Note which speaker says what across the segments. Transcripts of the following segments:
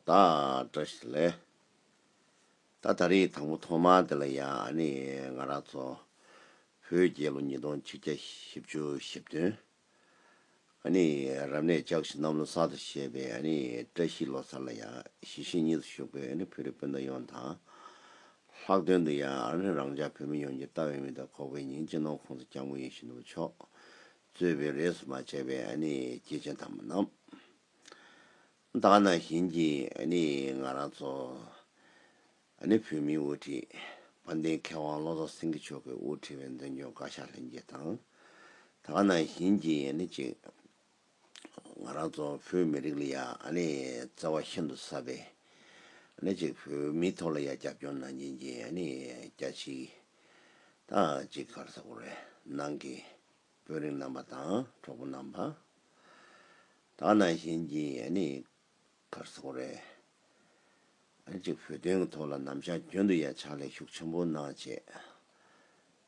Speaker 1: ད་བཀྲ་ཤིས་ལེ། ད་ད་རེས་དང་པོ་ཐོག་མ་དེ་ལ་ཡང་ཨ་ནི་ང་རང་ཚོ་བོད་རྒྱལ་ལོ་ཉིས་སྟོང་ཆིག་བརྒྱ་བཞི་བཅུ་བཞི་བདུན་ཨ་ནི་རབ་གནས་ལྕགས་བཞི་གནམ་ལོ་གསར་དུ་བཞད་པའི་ཨ་ནི་བཀྲ་ཤིས་ལོ་གསར་ལ་ཡང་གཞིས་བཞིས་གཉིས་སུ་བཞུགས་པའི་ཨ་ནི་བོད་རིགས་སྤུན་ཟླ་ཡོངས་དང་ལྷག་དོན་དུ་ཡང་ཨ་རིར་རང་ཅག་བོད་མི་ཡོངས་ཀྱི་ལྟ་བའི་མི་དང་ཁོག་པའི་ཉིང་བཅུད་ནང་ཁོང་ཚོ་སྐྱག་མོ་ཡིན་བཞིན་དུ་ཆོག། རྩོད་པའི་རེས་སུ་མ་ཆད་པའི་ཨ་ནི་སྐྱེས་ཆེན་དམ་པ་རྣམས། དག་སྣང་བཞིན་གྱི་ཨ་ནི་ང་རང་ཚོ། ཨ་ནི་བོད་མིའི་དབུ་ཁྲིད། དཔལ་ལྡན་མཁས་དབང་བློ་བཟང་སེང་གེ་མཆོག་གིས་དབུ་ཁྲིད་པའི་མདུན་སྐྱོང་བཀའ་ཤག་ལྷན་རྒྱས་དང། དག་སྣང་བཞིན་གྱི་ཨ་ནི་གཅིག། ང་རང་ཚོ་བོད་མི་རིགས་ལ་ཡ་ནི་བརྩེ་བ་ཤིན་ཏུ་ཟབ་པས། ཨ་ཅིག་བོད་མིའི་ཐོག་ལ་ཡ་རྒྱབ་སྐྱོར་གནང་སྦྱིན་གྱི་ཨ་ནི་སྐྱ་ཆིག་དང་གཅིག་གར་ས་གོ་རེ་ནང་གི་དཔོན་རིགས་རྣམ་པ་དང་གྲོགས་པོ་རྣམ་པ་དག་གནང་སྦྱིན་གྱི་ཨ་ནི་གར་ས་གོ་རེ་ཨ་ཅིག་བོད་དོན་གྱི་ཐོག་ལ་ནམ་ཞག་གྱོན་དུ་ཡ་ཕྱག་ལས་ཤུགས་ཆེན་པོ་གནང་བྱས།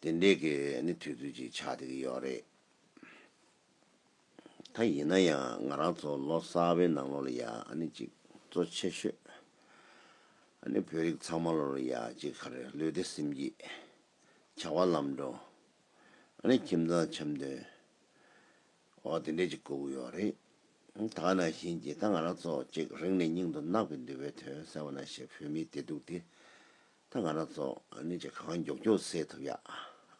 Speaker 1: དེ་འདྲའི་གི་ནི་དུས་ཚོད་ཅིག་ཆགས་བསྡད་ཀྱི་ཡོད་རེད། ད་ཡིན་ན་ཡང་ང་རང་ཚོ་ལོ་གསར་བའི་ནང་ལོ་ལ་ཡ་ནི་ཅིག་གཙོ་ཆེ་ཤོས་ཨ་ནི་བོད་རིགས་ཚང་མ་ལོ་ལ་ཡ་ཅིག་ཁ་རེ་ལུས་བདེ་སེམས་སྐྱིད། བྱ་བ་ལམ་འགྲོ། ཨ་ནི་ཁྱིམ་ཚང་འཆམ་མཐུན། འོ་དེ་འདྲས་ཅིག་དགོས་ཀྱི་ཡོད་རེད། ད་ང་ནང་བཞིན་གྱི་ད་ང་རང་ཚོ་ཅིག་རིང་ནས་སྙིང་དུ་བརྣག་པའི་འདུལ་བའི་དོན་གསལ་བོ་ན་ཞེ་བོད་མིའི་བདེ་སྡུག་དེ་ད་ང་རང་ཚོ་ནི་ཅི་གང་མགྱོགས་མགྱོགས་སེལ་ཐུབ་ཡག་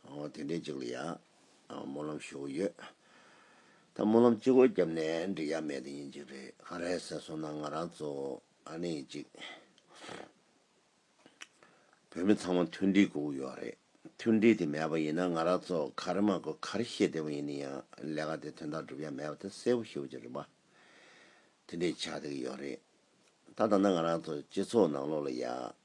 Speaker 1: ཨོ་དེ་འདྲའི་ཅིག་ལ་ཡག་སྨོན་ལམ་ཞུ་འོ་ཡོད་ད་སྨོན་ལམ་ཅིག་འོ་རྒྱབ་ནས་འགྲིག་ཡག་མེད་དེ་ཡིན་ཅིག་རེད་ག་རེད་ཟེར་སོང་ན་ང་རང་ཚོ་ནི་ཅིག་བོད་མི་ཚང་མ་མཐུན་སྒྲིལ་དགོས་ཀྱི་ཡོད་རེད་མཐུན་སྒྲིལ་དེ་མེད་པ་ཡིན་ན་ང་རང་ཚོ་ག་རེ་མ་དགོས་ག་རེ་ཤེས་བདེ་བོ་ཡིན་ནི་ཡང་ལས་ཀ་དེ་དོན་དག་འགྲུབ་ཡག་མེད་པ་དེ་གསལ་བོ་ཤེས་བོ་ཅིག་རེད་པ་དེ་འདྲས་ཆགས་བསྡད་ཀྱི་ཡོད་རེད་ད་ད་ནི་ང་རང་ཚོ་སྤྱི་ཚོགས་ནང་ལོག་ལ་ཡག་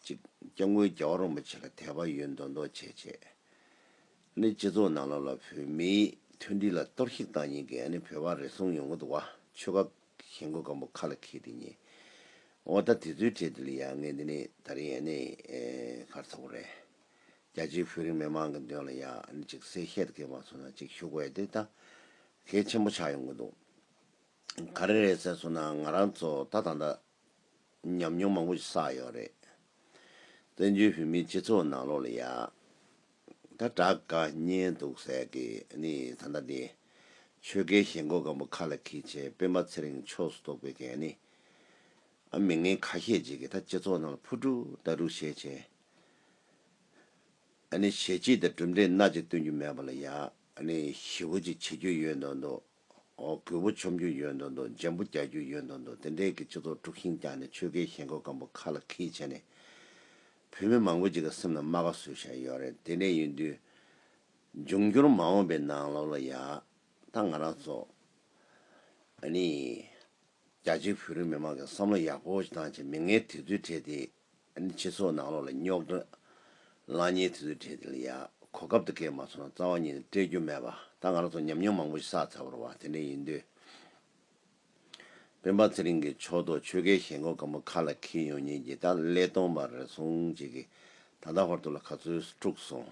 Speaker 1: གཅིག། སྐྱབས་མགོན་རྒྱལ་བ་རིན་པོ་ཆེ་ལ་དད་པ་ཡོད་མདོག་མདོག་བྱས་བྱས་ནས་སྤྱི་ཚོགས་ནང་ལོགས་ལ་བོད་མིའི་མཐུན་སྒྲིལ་ལ་གཏོར་བཤིག་བཏང་ཉིན་གྱི་ཨ་ནི་བོད་པ་རེ་ཟུང་ཡོང་གི་འདུག་བ་ཆོལ་ཁ་གཞན་མགོ་སྐམ་པོ་ཁ་ལ་འཁྱིལ་ཏེ་ཉེ་འོ་ད་དེ་ཚོའི་གྲས་འདི་ལ་ཡ་ངས་འདི་ནི་ད་རིང་ཨ་ནི་ཁར་ཚོགས་པ་རེད་རྒྱ་ཆེའི་བོད་རིགས་མི་མང་གི་མདུན་ལ་ཡ་ཨ་ནི་ཅིག་གསལ་བཤད་དགེ་མ་སོང་ན་ཅིག་ཞུ་དགོས་དེ་ད་གལ་ཆེན་པོ་ཆགས་ཡོང་གི་འདུག་ག་རེ་རེད་ཟེར་སོང་ན་ང་རང་ཚོ་ད་ད་ལྟ། ཉམས་མྱོང་མང་པོ་ཞིག་བསགས་ཡོད་རེད། བཙན་བྱོལ་བོད་མིའི་སྤྱི་ཚོགས་ནང་ལོགས་ལ་ཡག་ད་དྲག་དཀའ་རྙེད་འདུག་ཟེར་གི་ནི་ད་ལྟ་འདི། ཆོལ་ཁའི་ཞེན་ཁོག་སྒམ་པོ་ཁ་ལ་འཁྱིལ་ཆེད་སྤེན་པ་ཚེ་རིང་ཕྱོགས་སུ་གཏོགས་པའི་གན་ནི། ཨ་མི་ངན་ཁ་ཤས་ཅིག་གིས་ད་སྤྱི་ཚོགས་ནང་ལ་ཕུ་དཀྲུག་ད་དཀྲུག་བྱས་བྱས། ཨ་ནི་བྱེད་ཀྱི་ད་གྲུབ་འབྲས་སྣ་གཅིག་སྟོན་རྒྱུ་མེད་པ་ལ་ཡག་ཨ་ནི་ཞི་བོ་ཅིག་བྱེད་རྒྱུ་ཡོད་མདོག་མདོག། རྒོད་པོ་འཆོམ་རྒྱུ་ཡོད་འདོད་འདོད་འཇམ་པོ་རྒྱག་རྒྱུ་ཡོད་འདོད་འདོད་དེ་འདྲས་ཀྱི་སྤྱི་ཚོགས་དཀྲུགས་ཤིང་བཀྱགས་ནས་ཆོལ་ཁའི་ཞེན་ཁོག་སྐམ་པོ་ཁ་ལ་ཁིལ་བྱས་ནས། བོད་མི་མང་པོ་ཅིག་གི་སེམས་ལ་རྨ་ཁ་བཟོས་བཞག་ཡོད་རེད་དེ་འདྲས་ཡིན་དུས། འབྱུང་འགྱུར་མ་འོངས་པའི་ནང་ལོགས་ལ་ཡག་ད་ང་རང་ཚོ། ཨ་ནི། རྒྱ་ཆེའི་བོད་རིགས་མི་མང་གི་བསམ་བློ་ཡག་པོ་བཏང་ཆེད་མི་ངན་དེ་ཚོའི་གྲས་དེ་སྤྱི་ཚོགས་ནང་བློ་ལ་རྙོག་དྲ། ལངས་ཉེས་དེ་ཚོའི་གྲས་དེ་ལ་ཡག། གོ་སྐབས་དེ་སྐད་མ་ཚོར་ན་རྩ་བ་ཉིད་ནས་སྤྲད་རྒྱུ་མེད་པ། ད་ང་རང་ཚོ་ཉམས་མྱོང་མང་པོ་ཞིག་བསགས་ཚར་བར་བ་དེ་འདྲ་ཡིན་དུས། སྤེན་པ་ཚེ་རིང་གིས་ཕྱོགས་གཏོགས་ཆོལ་ཁའི་ཞེན་ཁོག་སྐམ་པོ་ཁ་ལ་འཁྱིལ་ཡོང་ཉེན་གྱིས་ད་ལས་སྟོང་པར་རེ་ཟུང་བྱེད་ཀྱི། ད་ལྟ་ཧོར་ཐུག་ལ་ག་ཚོད་སྤྲུགས་སོང།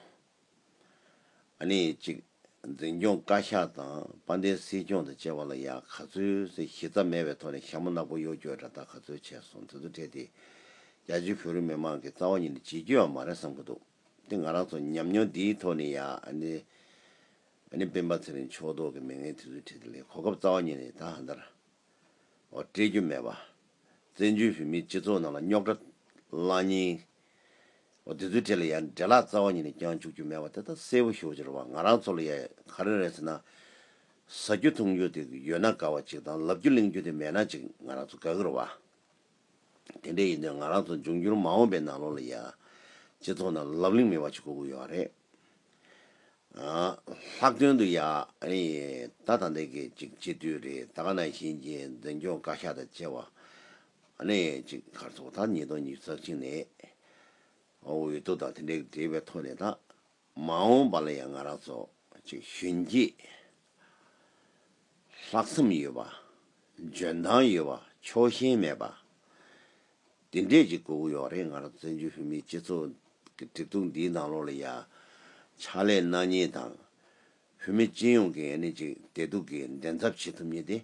Speaker 1: ནི་གཅིག། འཛིན་སྐྱོང་བཀའ་ཤག་དང་དཔའ་མཐའི་སྲིད་སྐྱོང་དང་བཅས་པ་ལ་ཡང་ག་ཚོད་ཟིག་གཞི་རྩ་མེད་པའི་ཐོག་ནས་ཞྭ་མོ་ནག་པོ་གཡོ་སྐྱོད་དྲ་བདག་ག་ཚོད་བྱས་སོང་དེ་ཚོ་འཕྲད་དེ། རྒྱ་ཆེའི་བོད་རིགས་མི་མང་གི་རྩ་བ་ཉིད་ནས་བྱིས་རྒྱུའམ་མ་རེད་བསམ་གྱི་འདུག་དེ་ང་རང་ཚོ་ཉམས་མྱོང་འདིའི་ཐོག་ནས་ཡང་ནི། སྤེན་པ་ཚེ་རིང་ཕྱོགས་གཏོགས་ཀྱི་མི་ངན་དེ་ཚོའི་འཕྲད་དེ་ལས་གོ་སྐབས་རྩ་བ་ཉིད་ནས་ད་ཧ་འདར། བ་སྤྲད་རྒྱུ་མེད་པ། བཙན་བྱོལ་བོད་མིའི་སྤྱི་ཚོགས་ནང་ལ་རྙོག་དྲ། གླང་སྙིང། བ་དེ་ཚོའི་གྲས་ལ་ཡང་འདྲེ་ལག་རྩ་བ་ཉིད་ནས་བརྐྱང་བཅུག་རྒྱུ་མེད་པ་དེ་དག་གསལ་བོ་ཤོད་རྒྱུར་བ་ང་རང་ཚོ་ལ་ཡ་ག་རེ་རེད་ཟེར་ན། ཟ་རྒྱུ་འཐུང་རྒྱུ་དེ་ཡོད་ན་དགའ་བ་ཅིག་དང་ལབ་རྒྱུ་གླེང་རྒྱུ་དེ་མེད་ན་ཅིག་ང་རང་ཚོ་དགའ་གིར་བ། དེ་འདྲས་ཡིན་དུས་ང་རང་ཚོ་འབྱུང་འགྱུར་མ་འོངས་པའི་ནང་ལོ་ལ་ཡ། སྤྱི་ཚོགས་ནང་ལབ་གླེང་མེད་པ་ཅིག་དགོས་ཀི་ཡོད་རེད། ལྷག་དོན་དུ་ཡང་ད་ད་འདི་གི་ཅིག་སྤྱི་འཐུས་རེད་ད་ག་ན་བཞིན་གྱི་འཛིན་སྐྱོང་བཀའ་ཤག་དང་བཅས་བ་ནས་ཅིག་མཁར་ཚོགས་ད་ཉིས་སྟོང་ཉིས་བརྩེགས་གཅིག་ནས་འོས་བསྡུ་དང་དེ་འདྲའི་འབྲེལ་བའི་ཐོག་ནས་ད་མ་འོངས་པ་ལ་ཡང་ང་རང་ཚོ་ཅིག་གཞོན་སྐྱེས་ལྷག་བསམ་ཡོད་པ་འཇོན་ཐང་ཡོད་པ་ཕྱོགས་ཞེན་མེད་པ། འདི་འདྲས་ཀྱི་གོ་བུ་ཡོག་རེད་ང་རང་བཙན་བྱོལ་བོད་མིའི་སྤྱི་ཚོགས་ཀྱི་གྲིབ་གདུང་འདིའི་ནང་ལོག་ལ་ཡ། ཕྱག་ལས་གནང་ཉེན་དང། བོད་མི་སྤྱི་ཡོངས་ཀྱི་ཡ་ནི་ཅིག་བདེ་སྡུག་གི་འགྲན་ཚབ་བྱེད་ཐུབ་ཉེན་ཏེ།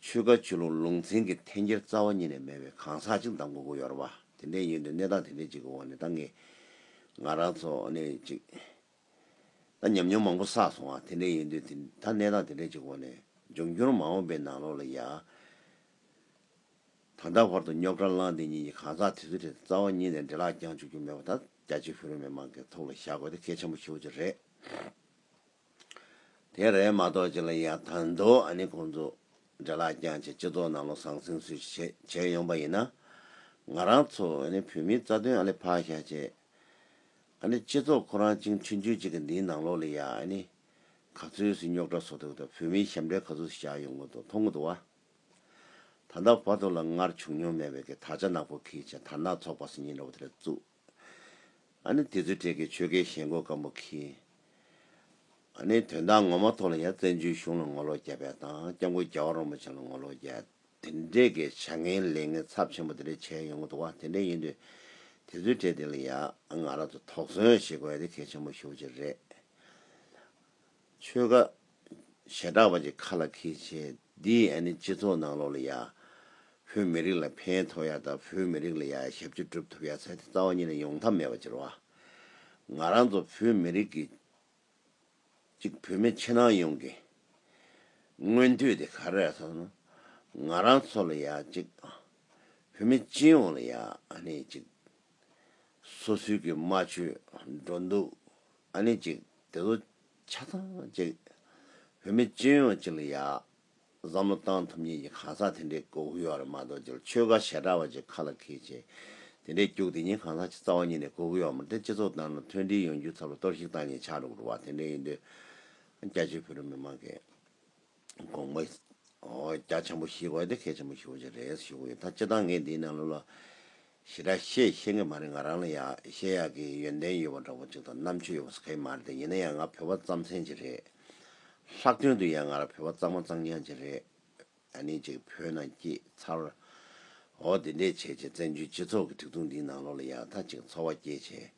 Speaker 1: ཆོལ་ཁ་ཆོས་ལུགས་ལུང་ཚན་གྱི་འཐེན་འཁྱེར་རྩ་བ་ཉིད་ནས་མེད་པའི་གང་ཟག་ཅིག་དང་གོ་བུ་ཡོར་བ་དེ་འདྲས་ཡོད་འདུག་གནས་སྟངས་དེ་འདྲས་ཅིག་གི་འོག་ནས་ད་ངས་ང་རང་ཚོ་ཡ་ནི་ཅིག། ད་ཉམས་མྱོང་མང་པོ་བསགས་སོང་བ་དེ་འདྲས་ཡོད་འདུག་ད་གནས་སྟངས་དེ་འདྲས་ཅིག་གི་འོག་ནས་འབྱུང་འགྱུར་མ་འོངས་པའི་ནང་ལོག་ལ་ཡ། ད་ལྟ་བར་དུ་རྙོག་དྲ་བསླངས་དེ་གཉིས་ཀྱི་གང་ཟག་དེ་ཚོའི་ཁྲོད་དུ་རྩ་བ་ཉིད་ནས་འདྲེ་ལག་བརྐྱངས་བཅུག་རྒྱུ་མེད་པ་དང་རྒྱ་ཆེའི་བོད་རིགས་མི་མང་གི་ཐུགས་ལ་བཞག་དགོས་དེ་གལ་ཆེན་པོ་ཤོས་ཅིག་རེད། དེ་རེད་མ་གཏོགས་ཅི་ལ་ཡག་དང་འདུག་ཨ་ནི་ཁོང་ཚོ་འདྲེ་ལག་བརྐྱངས་ཆེད་སྤྱི་ཚོགས་ནང་བློ་བཟང་སེང་གསོལ་ཞིག་བྱེད་བྱེད་ཡོང་པ་ཡིན་ན། ང་རང་ཚོ་ཨ་ནི་བོད་མིའི་རྩ་དོན་ཨ་ལེ་ཕག་ཤ་ཆེ། ཨ་ནི་སྤྱི་ཚོགས་ཁོ་རང་བཅིངས་ཁྲི་འཇུས་བྱེད་ཀྱི་འདིའི་ནང་ལོགས་ལ་ཡ་ཨ་ནི་ག་ཚོད་སུས་རྙོག་དྲ་བཟོ་ཐུབ་ཐུབ་བོད་མིའི་ཞབས་འདྲེན་ག་ཚོད་སུས་བཞག་ཡོང་གི་འདུག་མཐོང་གི་འདུག་བ། ད་ལྟ་བར་དུ་ལ་སྔར་བྱུང་མྱོང་མེད་པའི་གི་དར་ཆ་ནག་པོ་གིས་ཅན་དར་ནག་ཚོགས་པ་སུ་ཉིན་རེ་བ་དེ་རེ་བཙུགས། ཨ་ནི་དེ་ཚོའི་གྲས་ཀྱི་ཆོལ་ཁའི་ཞེན་ཁོག་སྐམ་པོ་གིས། ཨ་ནི་དོན་དག་ངོ་མ་ཐོག་ལ་ཡང་བཙན་བྱོལ་གཞུང་ལ་ངོ་ལོག་རྒྱ་བལ་དང་སྐྱབས་མགོན་རྒྱ་བ་རོང་པོ་ཅན་ལ་ངོ་ལོག་རྒྱ། དེ་འདྲའི་གི་བྱ་ངན་ལས་ངན་ཚབས་ཆེན་པོ་དེ་རེ་བྱས་ཡོང་གི་འདུག་བ་དེ་འདྲ་ཡིན་དུས། དེ་ཚོའི་གྲས་དེ་ལ་ཡང་ང་རང་ཚོ་དོགས་ཟོན་བྱེད་དགོས་ཡ་དེ་གལ་ཆེན་པོ་ཤོག་ཅིག་རེད། ཆོལ་ཁ། ཞེ་དྲག་པ་ཅིག་ཁ་ལ་ཁེལ་བྱས། འདིས་ཨ་ནི་སྤྱི་ཚོགས་ནང་ལོག་ལ་ཡ། བོད་མི་རིགས་ལ་ཕན་ཐོགས་ཡ་དང་བོད་མི་རིགས་ལ་ཡ་ཡ་ཞབས་ཕྱི་སྒྲུབ་ཐུབ་ཡ་ཚད་དེ་རྩ་བ་ཉིད་ལ་ཡོང་ཐབས་མེད་པ་ཅིར་བ། ང་རང་ཚོ་བོད་མི་རིགས་ཀྱི། གཅིག་བོད་མི་ཕྱི་ནང་ཡོངས་ཀྱི། སྔོན་དུས་དེ་ག་རེ་ཟ་ན། ང་རང་ཚོ་ལ་ཡ་གཅིག། བོད་མི་སྤྱི་ཡོངས་ལ་ཡ་ཨ་ནི་གཅིག། སོ་སོའི་གི་རྨ་ཆུའི་སྒྲོ་འདོགས། ཨ་ནི་ཅིག་དེ་ཚོ་ཆ་ཚང་ཅིག་བོད་མི་སྤྱི་ཡོངས་ཅིག་ལ་ཡག། བསམ་བློ་བཏང་ཐུབ་ཉིན་གྱི་གང་ཟག་དེ་འདྲའི་མགོ་བོ་ཡོ་ར་མ་གཏོགས་ཅིག་ལ་ཆོལ་ཁ་ཞེ་དྲག་བ་ཅིག་ཁ་ལ་འཁེལ་ཆེ། དེ་འདྲའི་སྐྱུག་དེ་ཉིན་གང་ཟག་ཅིག་རྩ་བ་ཉིད་ནས་མགོ་བོ་ཡོ་ར་མ་སྟེ་སྤྱི་ཚོགས་ནང་ན་མཐུན་སྒྲིལ་ཡོང་རྒྱུའི་ཚབ་ལ་གཏོར་བཤིག་བཏང་ཉིན་ཆགས་འགྲོ་དགོས་པ་དེ་འདྲའི་ཡིན་དུས། རྒྱ་ཆེའི་བོད་རིགས་མི་མང་གིས། དགོངས་པ། རྒྱ་ཆེན་པོ་ཞིག་དགོས་ཏེ་གལ་ཆེན་པོ་ཞིག་ཡོད་ཀྱི་རེད་ཞུ་གི་ཡོད་ད་སྤྱིར་བཏང་ངས་འདིའི་ནང་ལོགས་ལ། ཞེ་དྲག་བཤད་ཤེས་ཀྱི་མ་རེད་ང་རང་ལ་ཡང་བཤད་ཡག་གི་ཡོན་ཏན་ཡོད་པ་འདྲ་བོ་ཅིག་དང་རྣམ་དཔྱོད་ཡོད་པ་སོགས་ག་ཡིན་མ་རེད་ད་ཡིན་ན་ཡང་ང་བོད་པ་རྩམ་ཟན་ཅིག་རེད། ལྷག་དོན་དུ་ཡང་ང་རང་བོད་པ་གཙང་མ་གཙང་རྐྱང་ཅིག་རེད། ཨ་ནི་ཅིག་བོད་ནང་སྐྱིད་ཚར། འོ་དེ་འད་བྱས་བྱས་བཙན་བྱོལ་སྤྱི་ཚོགས་ཀྱི་ཐིག་ཐུང་འདིའི་ནང་ལོགས་ལ་ཡང་ད་ཅིག་འཚོ་བ་སྐྱེལ་བྱས།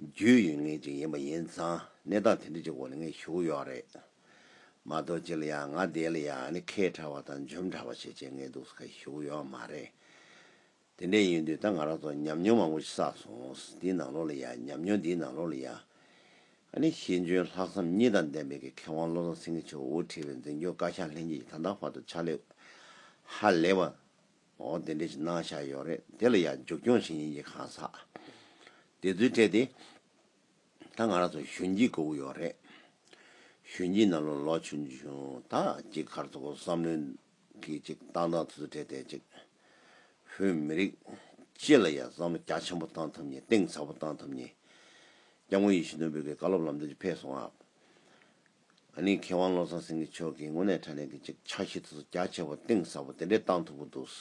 Speaker 1: རྒྱུས་ཡོད་ངེས་ཅིག་ཡིན་པ་ཡིན་ཙང་གནས་སྟངས་དེ་འད་ཅིག་འོག་ལ་ངས་ཞུ་གི་ཡོད་རེད། མ་གཏོགས་ཅི་ལ་ཡང་ང་འདས་ལ་ཡང་ནི་ཁས་ཁྲ་བ་དང་འཇོམས་ཁྲ་བ་བྱེད་བྱེད་ངའི་སྡུག་ས་ཁ་ཞུགས་ཡོད་མ་རེད། དེ་འདྲས་ཡིན་དུས་ད་ང་རང་ཚོ་ཉམས་མྱོང་མང་པོ་ཞིག་བསགས་སོང། འདིའི་ནང་ལོགས་ལ་ཡང་ཉམས་མྱོང་འདིའི་ནང་ལོགས་ལ་ཡང། ཨ་ནི་ཤེས་འཇོན་ལྷག་བསམ་གཉིས་དང་ལྡན་པའི་གི་མཁས་དབང་བློ་བཟང་སེང་གེ་མཆོག་དབུ་ཁྲིད་པའི་འཛིན་སྐྱོང་བཀའ་ཤག་ལྷན་རྒྱས་ཀྱི་ད་ལྟ་བར་དུ་ཕྱག་ལས་ཧ་ལས་པ། འོ་དེ་འདྲས་ཞིག་གནང་བཞག་ཡོད་རེད་དེ་ལ་ཡང་མཇུག་སྐྱོང་བྱེད་ཉིན་གྱི་གང་ཟག་དེ་ཚོའི་གྲས་དེ། ད་ང་རང་ཚོ་གཞོན་སྐྱེས་ཀོའུ་ཡོག་རེད། གཞོན་སྐྱེས་རྣམས་ལོ་ལོ་ཆུང་ཆུང་དག་ཅིག་ཁར་ཚོ་ཁོ་བསམ་བློའི་གིས་ཅིག་བཏང་བཏང་ཚུལ་ཚུལ་བྲལ་བྲལ་ཅིག། བོད་མི་རིགས་སྤྱི་ལ་ཡ་བསམ་བློ་རྒྱ་ཆེན་པོ་བཏང་ཐུབ་ཉེ་གཏིང་ཟབ་པོ་བཏང་ཐུབ་ཉེ། སྐྱབས་མགོན་ཡེ་ཤུ་དོན་འབོད་ཀྱི་བཀའ་སློབ་ལམ་སྟོན་གྱི་ཕེབས་སོང་ཨ། ཨ་ནི་མཁས་དབང་བློ་བཟང་སེང་གེ་མཆོག་གིས་དངོས་གནས་དྲ་ལན་གྱི་ཅིག་ཕྱག་བཞེས་ཐུགས་གསོ་རྒྱ་ཆེ་པོ་གཏིང་ཟབ་པོ་དེ་འདྲས་བཏང་ཐུབ་པོ་འདུག།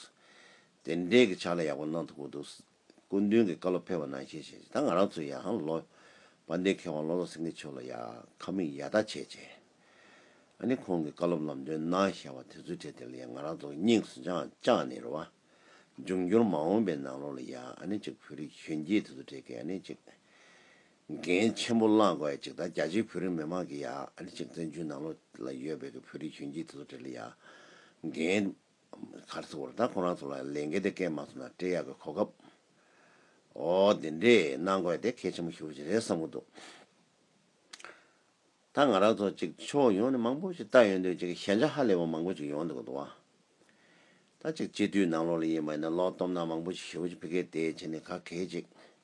Speaker 1: དེ་འདྲས་ཀྱི་ཕྱག་ལས་ཡག་པོ་གནང་ཐུབ་པོ་འདུག། སྐུ་མདུན་གྱི་བཀའ་སློབ་ཕེབས་པ་ནང་བཞིན་བྱས་རྗེས་ད་ང་རང་ཚོའི་ཡང་ལོ། དཔལ་ལྡན་མཁས་དབང་བློ་བཟང་སེང་གེ་མཆོག་ལ་ཡང་ཁ་མིག་ཡར་ལྟ་བྱས་རྗེས། ཨ་ནི་ཁོང་གི་བཀའ་སློབ་ལམ་སྟོན་གནང་བཞག་པ་དེ་ཚོའི་གྲས་དེ་ལ་ཡང་ང་རང་ཚོ་སྙིང་སུ་འཆང་བཅངས་ནས་རོལ་བ། འབྱུང་འགྱུར་མ་འོངས་པའི་ནང་ལོགས་ལ་ཡང་ཨ་ནི་ཅིག་བོད་རིགས་གཞོན་སྐྱེས་དེ་ཚོ་གྲས་ཀྱིས་ཨ་ནི་ཅིག། འགན་ཆེན་པོ་བླངས་དགོས་ཡ་ཅིག་ད་རྒྱ་ཆེའི་བོད་རིགས་མི་མང་གིས་ཡང་ཨ་ནི་ཅིག་བཙན་བྱོལ་ནང་ལོགས་ལ་ཡོད་པའི་བོད་རིགས་གཞོན་སྐྱེས་དེ་ཚོ་གྲས་ལ་ཡང་འགན། གར་ཚུགས་པར་ད་ཁོ་རང་ཚོ་ལ་ལས་འགན་དེ་སྐད་མ་ཐོན་ན་སྤྲེལ་ཡག་གི་གོ་སྐབས། འོ་དེ་འདྲས་གནང་དགོས་དེ་གལ་ཆེན་པོ་ཞུ་བཞིན་རེད་བསམ་གི་འདུག་ད་ང་རང་ཚོ་གཅིག་ཕྱོགས་ཡོངས་ནས་མང་པོ་ཞིག་བལྟ་ཡོང་དོན་ཅིག་ཞན་ཆ་ཧ་ལས་པ་མང་པོ་ཅིག་ཡོང་འདུག་གི་འདུག་བ། ད་ཅིག་སྤྱི་འཐུས་ནང་ལོགས་ལ་ཡིན་པ་ཡིན་ན་ལོག་སྟོབས་ནང་མང་པོ་ཞིག་ཞུ་བཞིན་ཕི་ཀའི་དེའི་ཆེ་ནས་ག་གེ་ཅིག།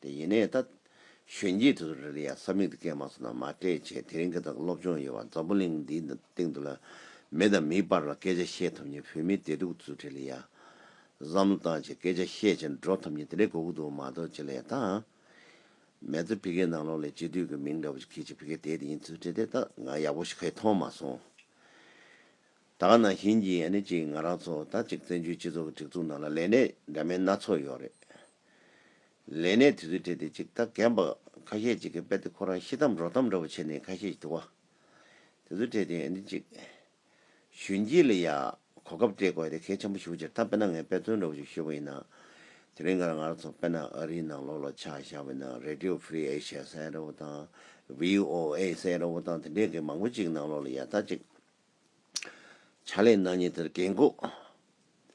Speaker 1: དེ་ཡིན་ནའི་ད། གཞོན་སྐྱེས་དེ་ཚོ་རེ་རེ་ཡང་ས་མིག་དེ་སྐད་མ་སོང་ན་མ་སྤྲད་བྱས་དེ་རིང་སྐད་དང་སློབ་སྦྱོང་ཡོད་བ་འཛམ་བུ་གླིང་འདིའི་སྟེང་དུ་ལ་མི་དང་མིའི་བར་ལ་སྐད་ཆ་བཤད་ཐུབ་ཉིན་བོད་མི་དེ་དྲུག་ཚུ་དྲི་ལི་ཡ། བསམ་བློ་བཏང་བྱས་སྐད་ཆ་བཤད་བྱས་འགྲོ་ཐུབ་ཉིན་དེ་འདྲའི་གོ་གུ་འདུག་མ་གཏོགས་ཅི་ལས་ད། མེད་ཚུལ་བི་གའི་ནང་ལོགས་ལས་སྤྱི་འཐུས་ཀྱི་མིང་འདྲ་པོ་ཞིག་གིས་ཅིག་བི་གའི་དེ་དེ་ཡིན་ཚུལ་བྲིས་དེ་ད་ང་ཡག་པོ་ཞིག་ག་ཡི་མཐོང་མ་སོང། ད་ག་ན་བཞིན་གྱི་ཨ་ནེ་གཅིག་ང་རང་ཚོ་ད་ཅིག་བཙན་བྱོལ་སྤྱི་ཚོགས་ཀྱི་སྒྲིག་འཛུགས་ནང་ལ་ལས་གནས་འདྲ་མིན་སྣ་ཚོགས་ཡོད་རེད། ལས་གནས་དེ་ཚོའི་གྲས་དེ་གཅིག་ད་གན་པ་ཁ་ཤས་གཅིག་གི་དཔེ་དེ་ཁོ་རང་ཤི་འཐམ་རོ་འཐམ་འདྲ་བོ་བྱས་ནས་ཁ་ཤས་དུ་བ། དེ་ཚོའི་གྲས་དེ་ཨ་ནེ་གཅིག། གཞོན་སྐྱེས་ལ་ཡ། གོ་སྐབས་སྤྲད་དགོས་ཡ་དེ་གལ་ཆེན་པོ་ཞུ་བྱེད་ད་དཔེ་ན་ངས་དཔེ་མཚོན་འདྲ་བོ་ཞིག་ཤོད་པ་ཡིན་ན། དེ་རིང་གར་ང་རང་ཚོ་དཔེ་ན་ཨ་རིའི་ནང་ལོག་ལོག་ཆགས་བཞག་པའི་ནང Radio Free Asia ཟེར་ཡ་འདྲ་བོ་དང། VOA ཟེར་ཡ་འདྲ་བོ་དང་དེ་འདྲས་གི་མང་པོ་གཅིག་ནང་ལོག་ལ་ཡ་ད་ཅིག། བྱ་ལས་ནག་ཉེས་དེར་བཀས་འགོག།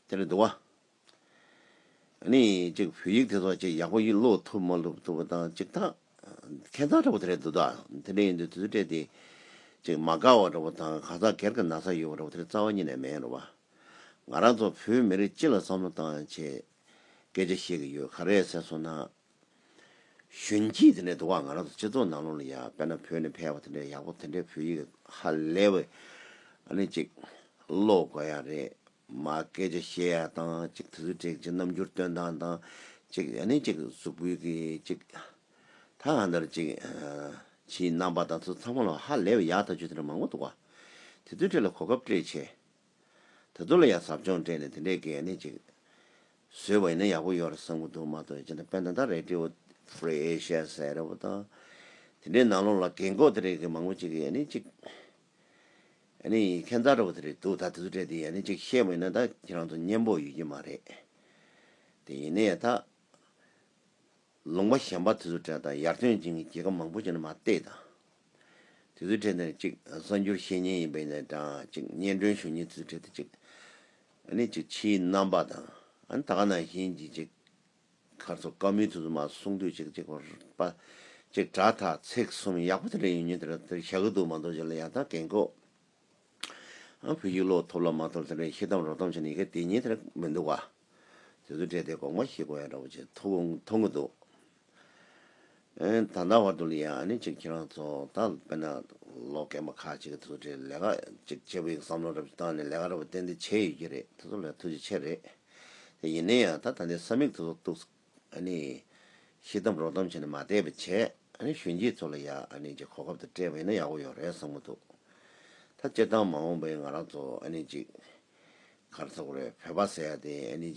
Speaker 1: དེ་ལས་དུ་བ། ནི། གཅིག་བོད་ཡིག་དེ་ཚོ་གཅིག་ཡག་པོ་ཡིན་ཀློག་ཐུབ་མ་ལུབ་ཐུབ་པ་དང་གཅིག་ཐག། ཁེ་མཚར་འདྲ་པོ་དེ་རེད་འདུག་ད་དེ་འདྲ་ཡིན་དུས་དུས་སུ་སྤྲད་དེ། གཅིག་མ་དགའ་བ་འདྲ་པོ་དང་གང་ཟག་སྒེར་གྱི་ན་ཚ་ཡོད་པ་འདྲ་པོ་དེ་རྩ་བ་ཉིད་ནས་མེད་རོ་བ། ང་རང་ཚོ་བོད་མི་རིགས་སྤྱི་ལ་བསམ་བློ་བཏང་ཆེད་སྐད་ཆ་བཤད་ཀྱི་ཡོད་ག་རེད་ཟེར་སོང་ན། གཞོན་སྐྱེས་དེ་འདྲའི་དུ་བ་ང་རང་ཚོ་སྤྱི་ཚོགས་ནང་ལོག་ནས་ཡ་དཔེར་ན་བོད་ནས་ཕལ་བ་དེ་འདྲའི་ཡག་པོ་དེ་འདྲའི་བོད་ཡིག་ཧ་ལས་པའི་ཨ་ནི་ཅིག་ཀློག་དགོས་ཡ་རེད་མ་སྐད་ཆ་བཤད་ཡ་དང་ཅིག་དུས་ཚོད་དྲེགས་ཅིག་རྣམ་འགྱུར་སྟོན་སྟངས་དང་ཅིག་ཨ་ནི་ཅིག་གཟུགས་པོའི་གི་ཅིག་ད་གང་ལྟར་ཅིག་ཕྱིའི་རྣམ་པ་དང་ཚོ་ཚང་མ་ལ་ཧ་ལས་པའི་ཡག་ལྟ་ཆོས་དེ་འདྲ་མང་པོ་འདུག་བ་དེ་ཚོའི་གྲས་ལ་གོ་སྐབས་སྤྲད་ཆེད། ད་དུ་ལ་ཡག་ཟབ་སྦྱོང་སྤྲད་ནས་དེ་འདྲའི་གད་སྙིགས་ཅིག་བཟོས་པ་ཡིན་ན་ཡག་པོ་ཡོད་རེད་བསམ་གྱི་འདུག་མ་གཏོགས་ཇི་འདྲ་དཔེ་ན་ད Radio Free Asia ཟེར་རེ་བོ་དང། དེ་འདྲའི་ནང་ལོགས་ལ་གད་འགོག་དེ་རེ་གི་མང་པོ་ཅིག་གི་ཡག་སྙིགས་ཅིག་ཨ་ནི་ཁྱད་མཚར་རེ་བོ་དེ་རེ་འདུག་ད་དེ་ཚོ་སྤྲད་དེ་ཡག་སྙིགས་ཅིག་བཤད་པ་ཡིན་ན་ད་ཁྱེད་རང་ཚོ་སྙན་པོ་ཡོད་ཀྱི་མ་རེད། དེ་ཡིན་ནའི་ད། ལུང་པ་གཞན་པ་དེ་ཚོ་གྲས་དང་ཡར་ཐོན་ཅན་གྱི་རྒྱལ་ཁབ་མང་པོ་ཅན་མ་གཏད་དང། དེ་ཚོའི་གྲས་འདི་ནི་གཅིག་གསར་འགྱུར་བཤད་ཉན་ཡིན་པས་ནས་དང་གཅིག་སྙན་སྒྲོན་ཞུ་ཉན་དེ་ཚོའི་གྲས་དེ་གཅིག། ཨ་ནི་གཅིག་ཕྱིའི་རྣམ་པ་དང་ཨ་ད་ག་ནང་བཞིན་གྱི་གཅིག། མཁར་ཚོ་དཀར་མོའི་དུས་སུ་མ་གསུང་དུས་གཅིག་གཅིག་བར་པ། གཅིག་དྲ་ཐག་ཚེགས་གསུམ་ཡག་པོ་དེ་འདྲ་ཡོད་ཉོན་དེ་འདྲ་དེར་བཞག་གི་འདུག་མ་འདུག་བྱས་ལ་ཡང་དག་འགན་ཁོ། བོད་ཡིག་ཀློག་ཐོབ་ལ་མ་ཐོབ་དེ་འདྲའི་ཤེས་གཏམ་རོགས་གཏམ་བྱས་ན་ཡི་གེ་དེ་ཉིད་དེར་མི་འདུག་ག། དེ་ཚོ་བྲིས་ཏེ་དགོངས་པ་ཞིག་གོ་ཡང་འདྲ་པོ་ཆེ་ཐོབ་མཐོང་གི་འདུག། ད་ལྟ་བར་དུ་ལ་ཡ་ཨ་ནི་ཅིག་ཁྱེད་རང་ཚོ་ད་དཔེར་ན་ལོ་རྒན་པ་ཁག་ཅིག་གིས་དེ་ཚོ་བྲིས་ལས་ཀ་ཅིག་བྱེད་པའི་བསམ་བློ་རབ་ཅིག་བཏང་ནས་ལས་ཀ་རབ་བརྟན་དེ་བྱས་ཡོད་ཀྱི་རེད་དེ་ཚོ་ལ་ཐུགས་རྗེ་ཆེ་རེད། དེ་ཡིན་ན་ཡང་ད་ད་ལྟའི་ས་མིག་དེ་ཚོ་གཏུགས། ཤི་འཐམ་རོ་འཐམ་བྱས་ནས་མ་བསྡད་པ་བྱས། གཞོན་སྐྱེས་ཚོ་ལ་ཡང་གོ་སྐབས་དང་སྤྲད་པ་ཡིན་ན་ཡག་པོ་ཡོད་རེད་བསམ་གྱི་འདུག་ད་སྤྱིར་བཏང་མ་འོངས་པའི་ང་རང་ཚོ་གར་ཚོགས་རེད་བོད་པ་ཟེར་ཡ་དེ།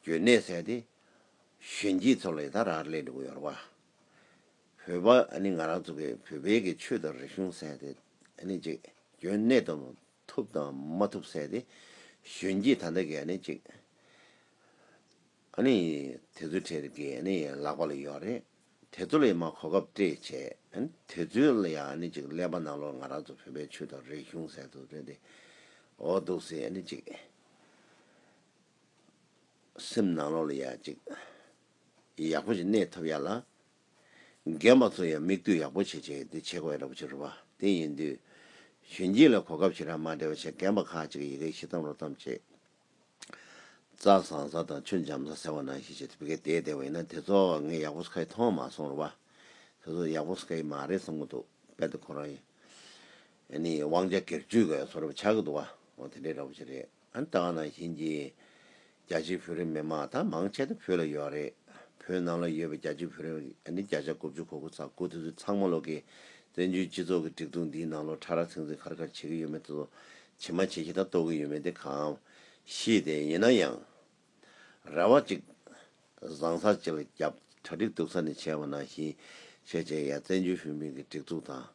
Speaker 1: འཇོན་ནད་ཟེར་ཡ་དེ། གཞོན་སྐྱེས་ཚོ་ལ་ཡི་དྭགས་ར་རེ་ལས་འགྲོ་གི་ཡོད་རེད་བ། བོད་པ་ང་རང་ཚོ་གི་བོད་པའི་གི་ཆོས་དང་རིག་གཞུང་ཟེར་ཡ་དེ། འཇོན་ནད་དང། ཐུབ་དང་མ་ཐུབ་བསལ་ཏེ། གཞོན་སྐྱེས་ད་ལྟ་གས་ནས་ཅིག། དེ་ཚོའི་གྲས་རེད་གས་ནས་ལག་པ་ལ་ཡོད་རེད། དེ་ཚོ་ལ་ཡང་མ་གོ་སྐབས་སྤྲད་བྱས། དེ་ཚོའི་ལ་ཡང་ནས་ཅིག་ཀླད་པ་ནག་ལོར་ང་རང་ཚོ་བོད་པའི་ཆོས་དང་རིག་གཞུང་ཟེར་དུ་རེད་དེ། འོ་འདུག་སེ་ནས་ཅིག། སེམས་ནག་ལོར་ལ་ཡ་ཅིག། ཡག་པོ་ཞིག་གནས་ཐུབ་ཡ་ལ། རྒན་པ་ཚོ་ཡང་མིག་ལྟོས་ཡག་པོ་བྱེད་ཅིང་དེ་བྱེད་དགོས་རབས་ཕྱིར་རོ། དེ་ཡིན་དུས། གཞོན་སྐྱེས་ལ་གོ་སྐབས་ཞིག་རག་མ་བྲལ་བ་ཆེ་རྒན་པ་ཁག་ཅིག་གི་ཡི་གེ་ཤི་གཏམ་རོ་གཏམ་བྱེད། རྩྭ་བཟང་ས་དང་ཆུ་འཇམ་ས་ཟེར་བ་ནང་བཞིན་བྱེད་དུ་བི་གེ་དེས་བདེ་བ་ཡིན་ན་དེ་ཚོ་ངས་ཡག་པོ་སྐ་ཡི་མཐོང་མ་སོང་རོ། དེ་ཚོ་ཡག་པོ་སྐ་ཡི་མ་རེད་བསམ་གི་འདུག་དཔལ་དུ་ཁོ་རང་ཡིན། དབང་ཆ་སྒེར་གཅོད་ག་ཡོད་ཚོ་རབས་ཆགས་ཀྱི་འདུག་བ། འོ་དེ་འདྲའི་ར་བོ་ཆེ་རེད། ཨན་ལྟ་བ་ནང་བཞིན་གྱི། རྒྱ་ཆེའི་བོད་རིགས་མི་དམངས་ད་མང་ཆེ་ད་བོད་ལ་ཡོད་རེད། བོད་ནང་ལ་ཡོད་པའི་རྒྱ་ཆེའི་བོད་རིགས་མི་ཨ་ནི་བརྒྱ་ཆ་དགུ་བཅུ་གོ་དགུ་ཚ་དགུ་དེ་ཚོས་ཚང་མ་ལོག་གི། བཙན་བྱོལ་སྤྱི་ཚོགས་ཀྱི་སྒྲིག་འཛུགས་འདིའི་ནང་ལོ་ཕྲ་རག་ཚིག་འཛིན་ཁར་ཁར་བྱེད་ཀྱི་ཡོད་མེད་དེ་ཚོ། བྱེད་མ་བྱེད་ཤེས་ད་རྟོགས་ཀྱི་ཡོད་མེད་དེ་གང། ཤེས་ཏེ་ཡིན་ན་ཡང། རེ་བ་ཅིག། བཟང་ས་ཅིལ་རྒྱབ་གྲ་སྒྲིག་འདུག་ས་ནས་བྱས་བ་ནང་བཞིན་བྱས་བྱས་ཡ་བཙན་བྱོལ་བོད་མིའི་གི་སྒྲིག་འཛུག་དང།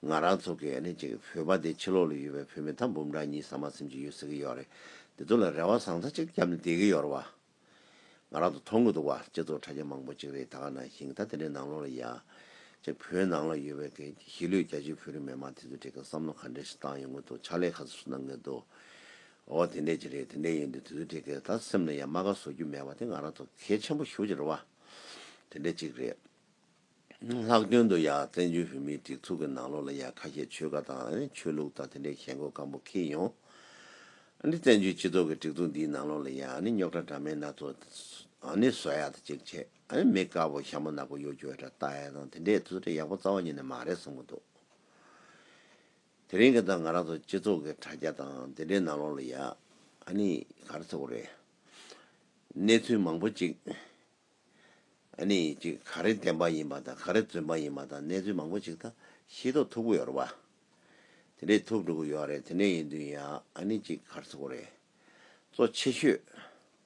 Speaker 1: ང་རང་ཚོ་གི་ཡ་ནི་ཅིག་བོད་པ་འདི་ཕྱི་ལོག་ལ་ཡོད་པའི་བོད་མི་ཐ་འབུམ་ཕྲག་གཉིས་ས་མ་སེམས་ཅིག་ཡོད་ཟེར་གི་ཡོད་རེད་འདི་ཚོ་ལ་རེ་བ་བཟང་ས་ཅིག་རྒྱབ་ནས་བསྡད་གི་ཡོད་རེད་བ། ང་རང་ཚོ་མཐོང་གི་འདུག་བ་སྤྱི་ཚོགས་དྲ་རྒྱ་མང་པོ་ཅིག་རེད་ད་ག་ནང་བཞིན་གི་ད་དེ་འདྲའི་ནང་ལོག་ལ་ཡ། ཅིག་བོད་ནང་ལ་ཡོད་པའི་གི་གཞིས་ལུས་རྒྱ་ཆེའི་བོད་རིགས་མི་དམངས་དེ་ཚོ་དེ་གི་བསམ་བློ་ག་འདྲའི་ཞིག་བཏང་ཡོད་ངོ་འདུག་ཕྱག་ལས་ག་ཚོད་སུ་གནང་གི་འདུག། ཨོ་དེ་འད་ཅི་རེད་དེ་འད་ཡོད་འདི་དུས་ཚོད་ཁྲེགས་ཁྲེགས་ད་སེམས་ན་ཡ་མ་ག་བཟོ་རྒྱུ་མེད་པ་དེ་ང་རང་ཚོ་གལ་ཆེན་པོ་ཞུ་ཅར་བ་དེ་འད་ཅིག་རེད། ལྷག་དོན་དུ་ཡ་བཙན་བྱོལ་བོད་མིའི་སྒྲིག་ཚུགས་ཀྱི་ནང་ལོགས་ལ་ཡ་ཁ་ཤས་ཆོལ་ཁ་དང་ཨ་ནི་ཆོས་ལུགས་དང་དེ་འད་ཞེན་གོ་སྐམ་པོ་ཁེལ་ཡོང། ཨ་ནི་བཙན་བྱོལ་སྤྱི་ཚོགས་ཀྱི་སྒྲིག་ཚུགས་འདིའི་ནང་ལོགས་ལ་ཡ་ཨ་ནི་རྙོག་ཁྲ་འདྲ་མེད་སྣ་ཚོགས་ཨ་ནི་བཟོ་ཡ་ད་ཅིག་བྱས་ཨ་ནི་མི་དཀར་པོ་ཤ་མོ་ནག་པོ་གཡོ་སྒྱུ་ཨེ་ད་ལྟ་ཨེ་དང་དེ་འད་དུས་ཚོད་ཁྲེགས་ཡག་པོ་རྩ་བ་ཉིད་ནས་མ་རེད་བསམ་གྱི་འདུག། དེ་རིང་གི་ད་ང་རང་ཚོ་སྤྱི་ཚོགས་ཀྱི་དྲ་རྒྱ་དང་དེ་འདྲའི་ནང་ལོགས་ལ་ཡ་ཨ་ནི་གར་ཚོགས་རེད། གནས་ཚུལ་མང་པོ་ཅིག་ཨ་ནི་ཅིག་ག་རེ་བདེན་པ་ཡིན་པ་དང་ག་རེ་རྫུན་པ་ཡིན་པ་དང་གནས་ཚུལ་མང་པོ་ཅིག་ད་ཤེས་རྟོགས་ཐུབ་གི་ཡོད་རེད་པ། དེ་འདྲས་ཐུབ་འགྲོ་གི་ཡོད་རེད་དེ་འདྲས་ཡིན་དུས་ཡ་ཨ་ནི་ཅིག་གར་ཚོགས་རེད། གཙོ་ཆེ་ཤོས།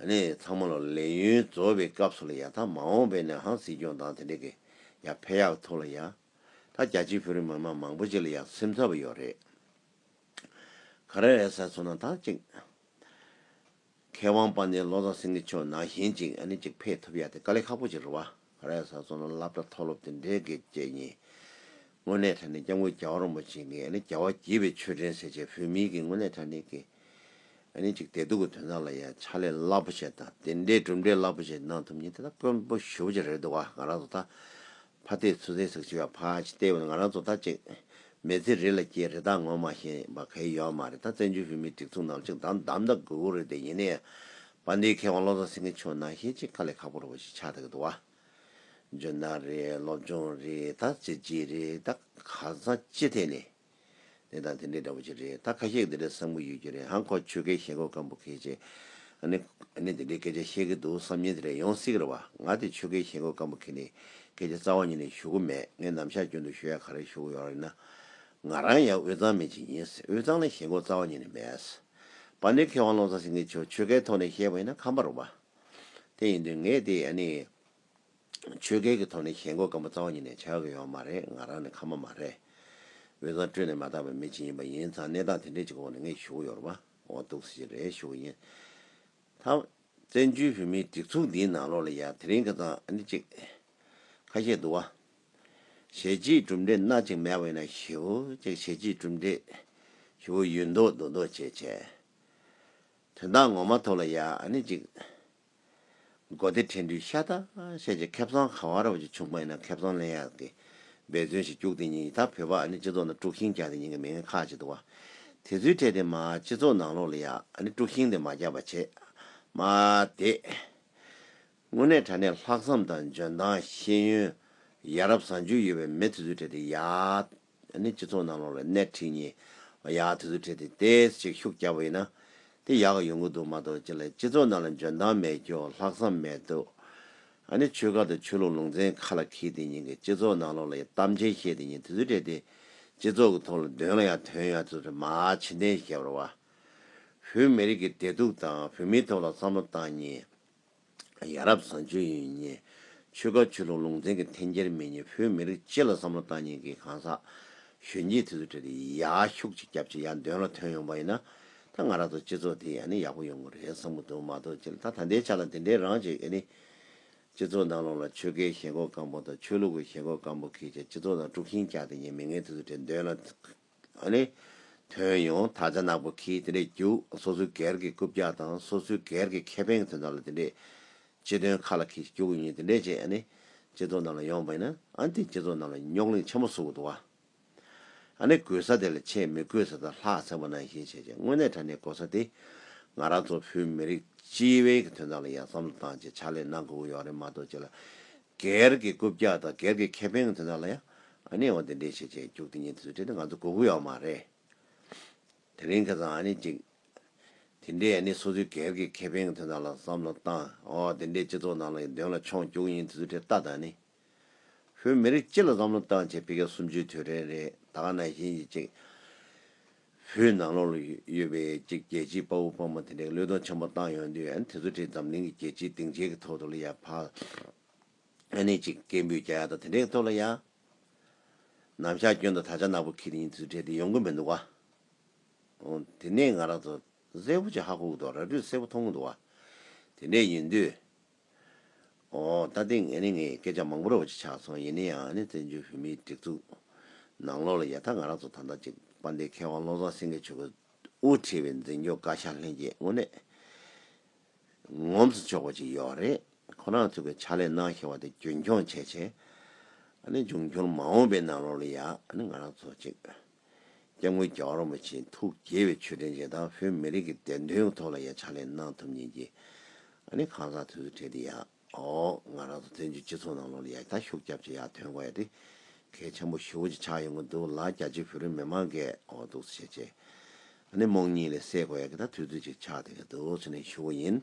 Speaker 1: ནས་ཚང་མ་ལ་ལས་ཡུན་རྫོགས་པའི་སྐབས་སུ་ལ་ཡ་ད་མ་འོངས་པའི་ནས་ཧང་སྲིད་སྐྱོང་དང་དེ་འདྲ་གི་ཡ་ཕེ་ཡག་ཐུག་ལ་ཡ། ད་རྒྱ་ཆེའི་བོད་རིགས་མི་དམངས་མང་པོ་ཅིག་ལ་ཡ་སེམས་འཚབ་པ་ཡོད་རེད། ག་རེ་རེད་ཟེར་སོང་ན་ད་ཅིག། མཁས་དབང་པ་ནས་ལོ་ཙཱ་སེང་གེ་མཆོག་ནང་བཞིན་ཅིག་ཨ་ནི་ཅིག་ཕེ་ཐུབ་ཡ་དེ་དཀའ་ལས་ཁག་པོ་ཅིག་རེད་བ། ར་ཡ་ས་རྫོང་ལ་སླབ་གྲྭ་མཐོ་སློབ་དེ་འབྲེལ་དགེ་བཅས་གཉིས། དངོས་གནས་དྲ་གནས་སྐྱབས་མགོན་རྒྱལ་བ་རོན་པོ་ཆེ་ངས་ནི་རྒྱལ་བ་དགྱེས་པའི་ཆོས་འབྲེལ་ཟེར་བྱས་བོད་མིའི་གི་དངོས་གནས་དྲ་གནས་ཀི་ནི་ཅིག་བདེ་སྡུག་གི་དོན་དག་ལ་ཡ་ཕྱག་ལས་སླབ་པོ་ཆེ་དང་དེ་འདྲའི་གྲུབ་འབྲས་སླབ་པོ་ཆེ་གནང་ཐུབ་ཉིན་དེ་དག་དཔོན་པོ་ཞུ་བོ་ཆེ་རེད་འདུག་ག་ང་རང་ཚོ་ད་ཕ་བསྟེ་ཚུ་ཚེ་ཟེགས་ཆི་བ་ཕ་ཆི་བསྟེ་བ་ང་རང་ཚོ་ད་ཅིག་མེ་ཚེ་རི་ལ་སྐྱེས་རི་དྭགས་ངོ་མ་ཤེས་པ་ག་ཡི་ཡོད་མ་རེད་ད་བཙན་བྱོལ་བོད་མིའི་སྒྲིག་འཛུགས་ནང་ལ་ཅིག་དམ་དམ་ད་དགོས་དགོས་རེད་དེ་ཡིན་ནའི་བ་འདིའི་མཁས་དབང་བློ་བཟང་སེང་གེ་མཆོག་ནང་བཤད་ཅིག་དཀའ་ལས་ཁག་པོར་བ་ཞིག་ཆགས་ད་གི་འདུག་བ། ཇོ་ནང་རེད་སློབ་སྦྱོང་རེད་ད་བྱས་རྗེས་རེད་ད་ག་ས་ཅི་ཐད་ནས། དེ་དང་དེ་འདྲའི་འདྲ་པོ་ཞིག་རེད་ད་ཁ་ཤས་འདི་འདྲའི་བསམ་གི་ཡོད་རྒྱུ་རེད་ཧང་ཁོ་ཆོལ་ཁའི་ཞེན་ཁོག་སྐམ་པོ་ཁེ་ཆེ། ནི་ནི་འདི་འདྲའི་སྐད་ཆ་བཤད་གི་འདུག་བསམ་ཉིན་དེ་རེད་ཡོང་སྲིད་གི་རེད་བ་ང་དེ་ཆོལ་ཁའི་ཞེན་ཁོག་སྐམ་པོ་ཁེ་ནི་སྐད་ཆ་རྩ་བ་ཉིད་ནས་ཞུ་གི་མེད་ངས་ནམ་ཞག་རྒྱུན་དུ་ཞུ་ཡ་ག་རེ་ཞུ་གི་ཡོད་རེད་ན། ང་རང་ཡང་དབུས་གཙང་མི་ཅིག་ཡིན་དབུས་གཙང་ལ་ཞེན་ཁོག་རྩ་བ་ཉིད་ནས་མེད། བ་འདི་མཁས་དབང་བློ་བཟང་སེང་གེ་མཆོག་ཆོལ་ཁའི་ཐོག་ནས་བཤད་པ་ཡིན་ན་ཁམས་པར་རུང་བ་དེ་ཡིན་དུས་ངས་དེ་ཡ་ནི་ཆོལ་ཁའི་གི་ཐོག་ནས་བཤད་མགོ་སྐམ་པོ་རྩ་བ་ཉིད་ནས་བྱ་གི་ཡོད་མ་རེད་ང་རང་ནི་ཁམས་པ་མ་རེད། འོས་ཚང་སྤྲོད་ནས་མ་བཏང་བའི་མི་གཅིག་ཡིན་པ་ཡིན་ཙང་གནས་སྟངས་དེ་འདྲའི་གཅིག་འོག་ནས་ངས་ཞུགས་ཡོད་རུང་བ་འོང་གཏུགས་སེ་རེད་ཞུ་གི་ཡིན། ད། བཙན་བྱོལ་བོད་མིའི་སྒྲིག་འཛུགས་འདིའི་ནང་ལོགས་ལ་ཡ་དེ་རིང་གི་ཙང་ཨ་ནི་གཅིག། ཁ་ཤས་འདུག་བ། ཞལ་གྱིས་གྲུབ་འབྲས་སྣ་གཅིག་མལ་བས་ན་ཞི་བོ་གཅིག་ཞལ་གྱིས་གྲུབ་འབྲས་ཞི་བོ་ཡུལ་མདོ་མདོ་མདོ་བྱེད་བྱེད། དོན་དག་ངོ་མ་ཐོབ་ལ་ཡ་ནི་ཅིག། མགོ་བདེ་ཕྲེང་འདུས་ཤ་ཏ་ཤས་ཀྱི་ཁེབས་བཟང་ག་བ་ར་བ་ཅིག་བྱུང་པ་ཡིན་ན་ཁེབས་བཟང་ལེན་ཡག་གི་འབད་བརྩོན་ཞིག་རྒྱུགས་དེ་ཉིན་ཡི་ད་བོད་པ་ཨ་ནི་སྤྱི་ཚོགས་ནང་དཀྲུགས་ཤིང་རྒྱག་དེ་ཉིན་གི་མི་ངན་ཁག་ཅིག་འདུག་བ་དེ་ཚོའི་གྲས་དེ་མ་སྤྱི་ཚོགས་ནང་ལོག་ལ་ཡ་ནི་དཀྲུགས་ཤིང་དེ་མ་རྒྱག་པ་བྱས་མ་དེ། དངོས་གནས་དྲ་གནས་ལྷག་བསམ་དང་འཇོན་ཐང་ཤེས་ཡོན། ཡ་རབས་བཟང་སྤྱོད་ཡོད་པའི་མི་དེ་ཚོའི་གྲས་དེ་ཡ། ནི་སྤྱི་ཚོགས་ནང་ལོགས་ལ་སྣེ་ཁྲིད་ངེས། ཡ་དེ་ཚོའི་གྲས་དེ་ཏེས་ཅིག་ཤུགས་རྒྱག་པ་ཡིན་ན། དེ་ཡག་གི་ཡོང་གི་འདུག་མ་གཏོགས་ཅི་ལ་སྤྱི་ཚོགས་ནང་ལ་འཇོན་ཐང་མེད་ཀྱོ་ལྷག་བསམ་མེད་དོ། ནི་ཆོལ་ཁ་དང་ཆོས་ལུགས་ལུང་ཚན་ཁ་ལ་འཁེལ་དེ་ཉིན་གྱི་སྤྱི་ཚོགས་ནང་ལོགས་ལ་ཡ་གཏམ་ཅན་བཤད་དེ་ཉིན་དེ་ཚོའི་གྲས་དེ། སྤྱི་ཚོགས་ཀྱི་ཐོག་ལ་འདོན་ལ་ཡ་དོན་ཡ་དེ་ཚོ་མ་ཕྱི་འཐེན་ཞེས་བྱ་བར་བ། བོད་མི་རིགས་ཀྱི་བདེ་སྡུག་དང་བོད་མིའི་ཐོག་ལ་བསམ་བློ་བཏང་ཉིན། ཡ་རབས་བཟང་སྤྱོད་ཡོན་བརྙེས། ཆོལ་ཁ་ཆོས་ལུགས་ལུང་ཚན་གྱི་འཐེན་འཁྱེར་མེད་ཉེས་བོད་མི་རིགས་སྤྱི་ལ་བསམ་བློ་བཏང་ཉིན་གྱི་གང་ཟག་གཞོན་སྐྱེས་དེ་ཚོ་ཁྲིད་དེ་ཡག་ཤུགས་ཅིག་རྒྱབ་ཅིག་ཡག་འདོན་ལ་ཐོན་ཡོང་པ་ཡིན་ན། ད་ང་ར་ཚོ་སྤྱི་ཚོགས་དེ་ཡང་ནི་ཡག་པོ་ཡོང་གི་རེད་བསམ་གི་འདུག་མ་གཏོགས་སྤྱི་ལ་ད་ད་ལྟའི་ཆ་ལ་དེ་འདྲའི་རང་བྱེད་ཨེ་ནི། སྤྱི་ཚོགས་ནང་ལོགས་ལ་ཆོལ་ཁའི་ཞེན་ཁོག་སྐམ་པོ་དང་ཆོས་ལུགས་ཀྱི་ཞེན་ཁོག་སྐམ་པོ་གིས་ཀྱང་སྤྱི་ཚོགས་ནང་དཀྲུགས་ཤིང་བཀྱགས་ཏེ་ཉེས་མི་ངན་དེ་ཚོ་ཁྲིད་འདོན་ལ་དོན་ཡང་དག་ཆ་ནག་པོ་གིས་དེ་འདྲས་རྒྱུགས་སོ་སོའི་སྒེར་གྱི་རྐུབ་བཀྱག་དང་སོ་སོའི་སྒེར་གྱི་ཁེ་ཕན་གྱི་དོན་དག་ལ་དེ་འདྲས། སྤྱི་དོན་ཁ་ལ་ཁིས་རྒྱུགས་ཡིན་དེ་འདྲས་བྱས། སྤྱི་ཚོགས་རྣམས་ལ་ཡོང་བས་ན་དེས་སྤྱི་ཚོགས་རྣམས་ལ་རྙོག་གླིང་ཆེན་པོ་བཟོ་དགོས་འདུག་བ། གུས་ས་དེ་ལ་ཆེས་མི་གུས་ས་ད་ལྷག་ཚན་པོ་ནང་བཞིན་བྱས་རྗེས་དངོས་གནས་དྲ་གནས་གོ་ས་དེ་ང་རང་ཚོ་བོད་མི་རིགས་སྤྱི་བའི་གྱི་དོན་དག་ལ་ཡང་བསམ་བློ་བཏང་རྗེས་ཕྱག་ལས་གནང་དགོས་ཀྱི་ཡོག་རེད་མ་གཏོགས་ཅི་ལ་སྒེར་གྱི་རྐུབ་བཀྱག་དང་སྒེར་གྱི་ཁེ་ཕན་དེ་དག་ལ་ཡང་གནས་བབ་འདི་འདྲའི་ཆེད་ཆེད་རྒྱུགས་འདི་གཉིས་དེ་ཚོའི་གྲས་དེ་ང་ཚོ་གོ་གི་ཡོག་མ་རེད། དེ་རིང་ཁྱེད་ཚང་འདི་འདྲའི་སོ་སོའི་སྒེར་གྱི་ཁེ་ཕན་དེ་དག་ལ་བསམ་བློ་བཏང་འོག་དེ་འདྲའི་སྤྱི་ཚོགས་ནང་ལ་ཡི་དོན་ལ་མཆོངས་རྒྱུགས་ཡིན་དེ་ཚོའི་གྲས་ལྟ་དང་ནི། བོད་མི་རིགས་སྤྱི་ལ་བསམ་བློ་བཏང་བྱས་ཕི་གེ་སུམ་ཅུའི་དུས་དྲན་རེད་ད་ག་ན་བཞིན་གྱི་ཅིག། བོད་ནང་ལོགས་ལ་ཡོད་པའི་རྒྱལ་སྤྱིའི་དཔའ་བོ་དཔའ་མོ་དེ་འདྲའི་བློས་གཏོང་ཆེན་པོ་བཏང་ཡོང་དུས་ཨ་ནེ་དེ་ཚོ་དེ་འཛམ་གླིང་གི་རྒྱལ་སྤྱིའི་སྡིངས་ཆའི་གི་ཐོག་ཏུ་ལ་ཡ་བག་ཨ་ནེ་ཅིག་སྐད་འབོད་རྒྱག་ཡ་དང་དེ་འདྲའི་གི་ཐོག་ལ་ཡ། ནམ་ཞག་སྐྱོན་དང་ད་ཆ་ནག་པོ་ཁྱི་དེ་ཉིད་དུ་འདྲེས་ཏེ་ཡོང་གི་མི་འདུག་ག། འོང། དེ་ནས་ང་རང་ཚོ་གཟེར་བོ་ཅིག་ཧ་གོ་གི་འདུག་ར་སྤྲོད་གསལ་པོ་མཐོང་གི་འདུག་ག། དེ་འདྲས་ཡིན་དུས། ཨོ། ད་ལྟའི་ངས་ནི་ངའི་སྐད་ཆ་མང་པོ་ར་བ་ཅིག་ཆགས་སོང་ཡིན་ན་ཡང་ནི་བཙན་བྱོལ་བོད་མིའི་སྒྲིག་འཛུགས་ནང་ལོགས་ལ་ཡ་ཐ་ང་རང་ཚོ་ད་ལྟ་ཅིག་དཔའ་མདའི་མཁས་དབང་བློ་བཟང་སེང་གེ་མཆོག་གི་དབུ་ཁྲིད་པའི་འཛིན་སྐྱོང་བཀའ་ཤག་ལྷན་རྒྱས་དངོས་གནས་ངོམས་སུ་ཆོག་པ་ཅིག་ཡོད་རེད། ཁོ་རང་ཚོ་གི་ཕྱག་ལས་གནང་ཤེས་བ་དེ་རྒྱུན་འཁྱོངས་བྱས་བྱས་ནི་འབྱུང་འགྱུར་མ་འོངས་པའི་ནང་ལོགས་ལ་ཡ་ནི་ང་རང་ཚོ་ཅིག་སྐྱབས་མགོན་རྒྱ་གར་རིན་པོ་ཆེའི་ཐུགས་དགྱེས་པའི་ཆོས་དྲན་རྗེས་དང་བོད་མི་རིགས་ཀྱི་བདེན་དོན་གྱི་ཐོག་ལ་ཡ་ཕྱག་ལས་གནང་ཐུབ་ཉིན་གྱི་ཨ་ནི་ཁང་བཟང་དུས་སུ་འཕྲད་དེ་ཡ་ཨོ་ང་རང་ཚོ་བཙན་བྱོལ་སྤྱི་ཚོགས་ནང་ལོགས་ལ་ཡ་ཕྱག་ཤུགས་རྒྱབ་ཆེ་ཡ་ཐོན་གོ་ཡ་དེ་གལ་ཆེན་པོ་ཞུ་བྱེད་ཆགས་ཡོང་གི་འདུག་ལ་རྒྱ་ཆེའི་བོད་རིགས་མི་མང་གས་ཨོ་འདུག་ཟེར་བྱས་རྗེས་ཨ་ནི་རྨོངས་གཉིད་ལས་སད་གོ་ཡ་གི་ད་དུས་ཚོད་ཅིག་ཆགས་དེ་གི་འདུག་ཟེར་ནས་ཞུ་བ་ཡིན།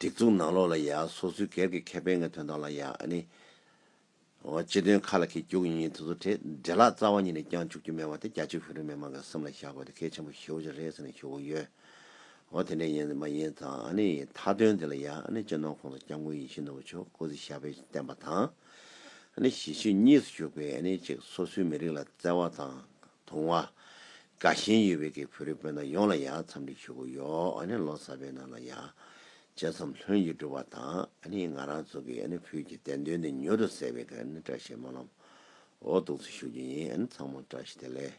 Speaker 1: སྒྲིག་འཛུགས་ནང་ལོགས་ལ་ཡང་སོ་སོའི་སྒེར་གྱི་ཁེ་ཕན་ངོས་དོན་དག་ལ་ཡང་ནི། སྤྱི་དོན་ཁ་ལ་ཁེལ་རྒྱུགས་ཡིན་ཡིན་དུ་དུ་དེ་འདྲེ་ལག་རྩ་བ་ཉིད་ནས་བསྐྱང་བཅུག་རྒྱུ་མེད་པ་དེ་རྒྱ་ཆེའི་བོད་རིགས་མི་དམངས་ཀྱི་སེམས་ལ་བཞག་དགོས་དེ་གལ་ཆེན་པོ་ཞེའོ་ཅི་རེད་ཟེར་ནས་ཞུ་གི་ཡོད། འོ་དེ་འདྲ་ཡིན་མ་ཡིན་དང་མཐའ་དོན་དེ་ལ་ཡང་ནི་སྤྱི་ནོར་ཁོང་དུ་བསྐྱང་དགོས་ཡིན་ཤི་ནོར་བུ་ཆོས་སྐུ་ཟི་ཞབས་པས་བསྟན་པ་དང། གཞིས་བཞུགས་གཉིས་སུ་བཞུགས་པས་ནི་གཅིག་སོ་སོའི་མི་རིགས་ལ་བརྩེ་བ་དང། དུང་བ། དགའ་ཞེན་ཡོད་པའི་གེགས་བོད་རིགས་སྤུན་ཟླ་ཡོངས་ལ་ཡང་འཚམས་འདྲི་ཞུ་གི་ཡོད། ལོ་གསར་པའི་ནང་ལ་ཡང་བཅས་འཚམས་ལྷོད་ཀྱིས་སྒྲུབ་པ་དང། ང་རང་ཚོ་གིས་བོད་ཀྱི་བདེན་དོན་དེ་མྱུར་དུ་གསལ་བའི་བཀྲ་ཤིས་སྨོན་ལམ་འོག་གདུགས་ཚོད་ཞུ་རྒྱུ་ཡིན། ཚང་མར་བཀྲ་ཤིས་བདེ་ལེགས།